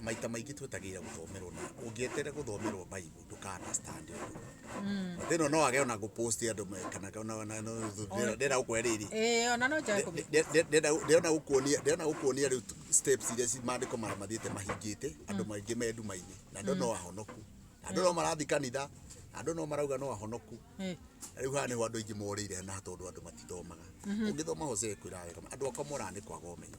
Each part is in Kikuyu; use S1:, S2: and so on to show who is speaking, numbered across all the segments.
S1: maita maingĩ twetagĩrĩra gũthomerwo na ũngĩetere gũthomerwo baibu ndũka understand ũndũ mm. thĩno no age ona gũpost andũ kana ndĩrenda gũkũhe rĩrĩ ndĩrenda gũkuonia rĩu steps iria maandĩko marĩa mathiĩte mahingĩte andũ mm. maingĩ me nduma-inĩ na andũ no mm. ahonoku na andũ no marathi kanitha andå no marauga no ahonoku rä u haha nä ho andå aingä morä ire na tondå andå matithomaga å ngä thoma hose kwä ra wega andå akwa moraga nä kwaga å menyo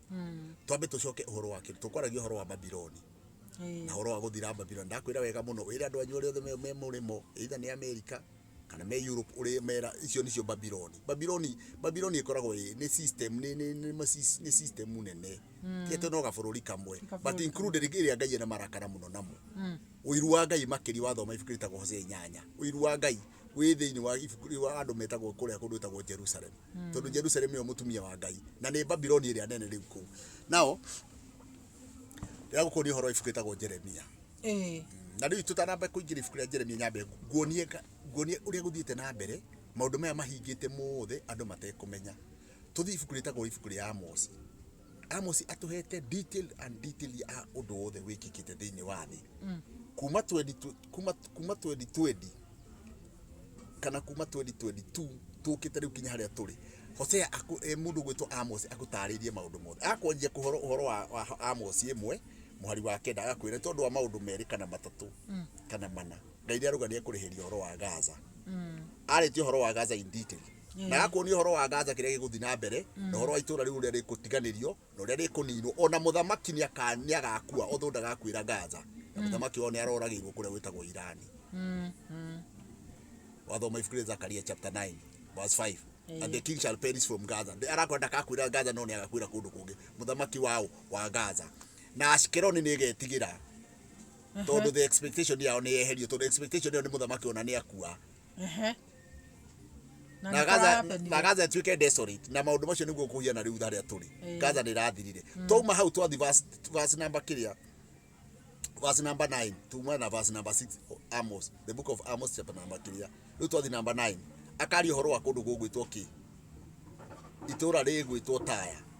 S1: mm. twambe tucoke uhoro wa kiri tukwaragia uhoro wa babiloni na uhoro wa guthira babiloni ndakwira wega muno wira andu anyu othe me murimo either ni america kana me europe uri mera icio nicio babiloni babiloni babiloni ikoragwo ni system ni ni ni system nene mm. tieto no gabururi kamwe but included iria ngai na marakara muno namo mm. uiru wa ngai makiri wa thoma ibuku ritagwo hosea inyanya uiru wa ngai wĩ thĩinĩ wa ibuku rĩu wa andũ metagwo kũrĩa kũndũ gwĩtagwo jerusalemu hmm. tondũ jerusalemu nĩyo mũtumia wa ngai na nĩ babiloni ĩrĩa nene rĩu kũu nao rĩrĩa gũkũ nĩ ũhoro ibuku rĩtagwo jeremia hmm. na rĩu tũtanamba kũingĩra ibuku rĩa jeremia nyambe nguonie nguonie ũrĩa gũthiĩte na mbere maũndũ maya mahingĩte mothe andũ matekũmenya tũthiĩ ibuku rĩtagwo ibuku rĩa amosi Amos atuhete detail and detail ya undu wothe wikikite thiini wa thi kuma 20 kuma kuma 2020 kana kuma 2022 tukite riu kinya haria turi Hosea aku eh, mundu gwitwo Amos agutaririe maundu mothe akwanjia kuhoro uhoro wa, wa Amos imwe muhari wa kenda agakwira tondu wa maundu meri kana matatu kana mana ngai ni arugania kurihiria uhoro wa Gaza aritie uhoro wa Gaza in detail na agakuonia ũhoro wa Gaza kĩrĩa gĩgũthiĩ na mbere na ũhoro wa itũũra rĩu ũrĩa rĩkũtiganĩrio na ũrĩa rĩkũninwo ona mũthamaki nĩ aka- nĩ agakua otho ndagakuĩra Gaza na mũthamaki wao nĩ aroragĩirwo kũrĩa gwĩtagwo Irani wathoma ibuku rĩa Zakaria chapter 9 verse 5 and the king shall perish from Gaza Nĩ- arakwenda ndakakuĩra Gaza no nĩ agakuĩra kũndũ kũngĩ mũthamaki wao wa Gaza na Ashkeloni nĩ ĩgetigĩra tondå the expectation yao nä yeherio tondå expectation yao nä må thamaki ona nä akua Ehe. Na na nĩ gaza kũrapenire. na gaza ĩtuĩke desolate na maũndũ macio nĩguo kũgĩa na rĩu harĩa tũrĩ Ĩĩ. gaza nĩ ĩrathirire twauma hau twathi verse- verse number kĩrĩa verse number 9 tuma na verse number 6 Amos the book of Amos chapter number kĩrĩa rĩu twathi number 9 akaria ũhoro wa kũndũ gũgwĩtwo kĩ itũũra rĩgwĩtwo taya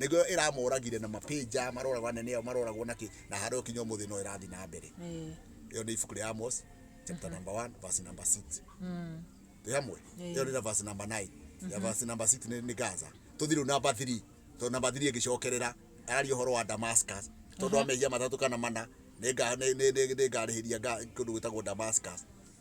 S1: nĩguo ĩramoragire na mapĩnja maroragwo anene ao maroragwo na kĩ na harĩa ũkinya ũmũthĩ no ĩrathiĩ na mbere Eh, ĩyo nĩ ibuku rĩa Amos chapter number 1 verse number 6 mm, twĩ hamwe Eh. ĩyo nĩ na verse number 9 ya verse number 6 nĩ nĩ Gaza tũthiĩ rĩu number 3 tondũ number 3 ĩgĩcokerera araria ũhoro wa Damascus tondũ wa mehia matatũ kana mana nĩ nga- nĩ- nĩ- nĩ- nĩngarĩhĩria nga- kũndũ gwĩtagwo Damascus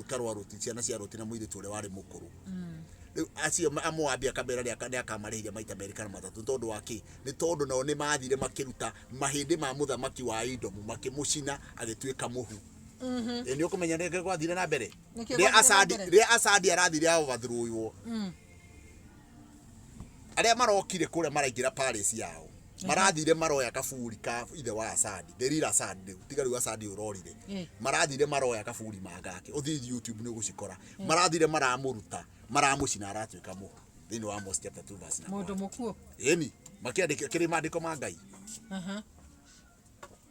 S1: ikarwaroti ciana cia roti na muiritu uria wari mukuru riu acio amoabi akamera ni akamarihia maita meri kana matatu tondu wa ki ni tondu nao ni mathire makiruta mahindi ma muthamaki wa idomu makimucina agituika muhu ni ukumenya ni gwathire na mbere ria asadi arathire a overthrow arĩa marokire kũrĩa maraingĩra palace yao marathire maroya kaburi ka ithe wa Asadi Delila Asadi rĩu tiga rĩu Asadi ũrorire Eh. marathire maroya kaburi mangake ũthiĩ YouTube nĩ ũgũcikora marathire maramũruta maramũcina aratuĩka mũhu thĩinĩ wa Amos chapter 2 verse number Mũndũ mũkuũ. ĩni makĩandĩka kĩrĩ maandĩko ma Ngai Aha.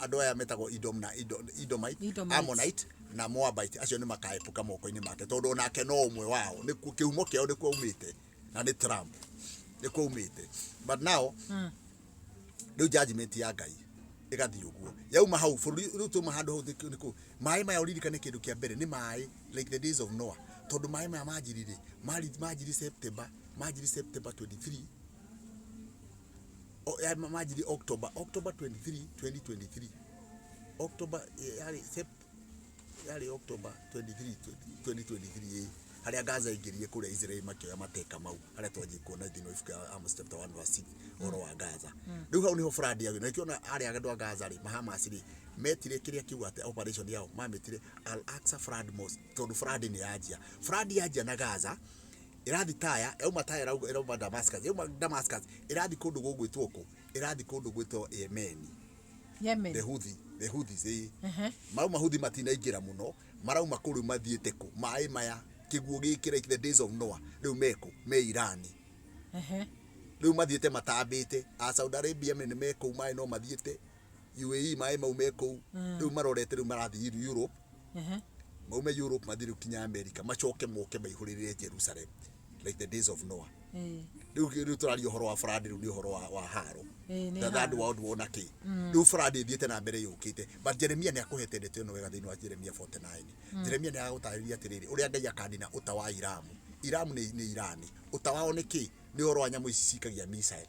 S1: andå aya metagwo Edom na Edo- Edomite, Edomite. Ammonite na Moabite acio nä makaepuka moko-inä make tondå onake no å mwe wao nä kä humo kä ao nä kuo umä te na nä Trump nä kuo umä te but now Mm. rä u judgment ya ngai ĩgathiĩ ũguo yauma hau bũrũri rĩu tuma handũ hau nĩ kũ maĩ maya ũririkane kĩndũ kĩa mbere nĩ maĩ like the days of Noah tondũ maĩ maya manjiri rĩ mari- manjiri September manjiri September 23 o- ya- ma- majiri october october 23 2023 october eh, yarĩ Sep- yarĩ october 23 2023 ĩ harĩa gaza ingĩrire kũrĩa israel makĩoya mateka mau harĩa twanjie kuona thĩinĩ wa ibuku ya amos chapter 1 verse 6 ũhoro wa gaza rĩu hau nĩho brandi yagĩ na kĩona arĩa andũ a gaza rĩ mahamas rĩ metire kĩrĩa kiuga atĩ operation yao mametire al aksa frad mos tondũ frad nĩ yanjia frad yanjia na gaza Ĩrathiĩ Taya, yauma Taya ĩrauga- ĩrauma Damascus, yauma Damascus ĩrathiĩ kũndũ gũgwĩtwo kũ? Ĩrathiĩ kũndũ gwĩtwo Yemeni, Yemen. the Houthi, the Houthis, ĩĩ. Ehe. Mau Mahouthi matinaingĩra mũno, marauma kũ rĩu mathiĩte kũ? Maĩ maya, kĩguũ gĩkĩ like the days of Noah, rĩu me kũ? Me Irani. Ehe. Rĩu mathiĩte matambĩte, a Saudi Arabia me nĩ me kũu maĩ no mathiĩte, UAE maĩ mau me kũu mm. rĩu marorete rĩu marathiĩ Europe uh-huh. maume Europe mathiĩ rĩu kinya America macoke moke maihũrĩrĩre Jerusalem like the days of Noah eh. rĩu rĩu tũraria ũhoro wa farandi rĩu nĩ ũhoro wa wa haro eh, the third world war na kĩ mm. rĩu farandi ĩthiĩte na mbere yũkĩte but Jeremia nĩ akũhete ndeto ĩno wega thĩinĩ wa Jeremia 49 mm. Jeremia nĩ agũtarĩria atĩrĩrĩ ũrĩa Ngai akanina ũta wa Iramu Iramu nĩ Irani ũta wao nĩ kĩ nĩ ũhoro wa nyamũ ici cikagia missile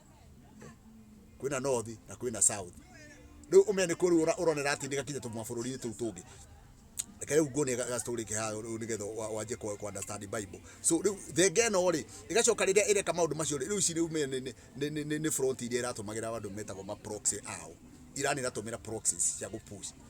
S1: kwina north na kwina south riu ume ni kurura uronera ati ndigakinye tu mabururi tu tungi reke riu ngone ga story ke ha riu nigetha wanje ku ku understand bible so riu thenge no ri igacoka riria ireka maundu macio riu ici riu me ni ni- ni ni- ni front iria iratumagira andu metagwo ma proxy ao irani iratumira proxies cia gupush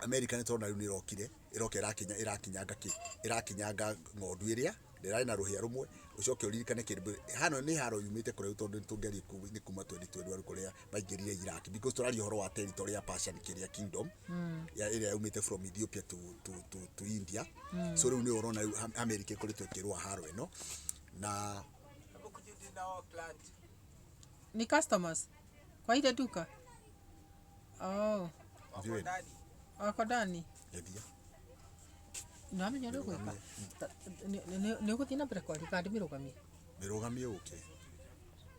S1: America nĩ tũrona rĩu nĩ ĩrokire ĩroka ĩrakinya ĩrakinyanga kĩ ĩrakinyanga ng'ondu ĩrĩa ndĩrarĩ na rũhĩa rũmwe ũcoke ũririkane kĩndũ hano nĩ haro yumĩte kũrĩa tondũ nĩ tũngerie nĩ kuma 2012 arĩ kũrĩa maingĩrire Iraq because tũraria ũhoro wa territory ya Persian kĩrĩa kingdom mm. ya ĩrĩa yumĩte from Ethiopia to, to, to, to India mm. so rĩu nĩ ũrona rĩu America ĩkoretwo ĩkĩrũa haro ĩno na ni customers kwa ile duka Oh, Ndiũĩ. wako ndani Ndeithia. nĩwamenya ũrĩa ũgwĩka Ta- nĩ- nĩ- nĩ ũgũthiĩ na mbere kwaria kandĩ mĩrũgamie Mĩrũgamie ũke.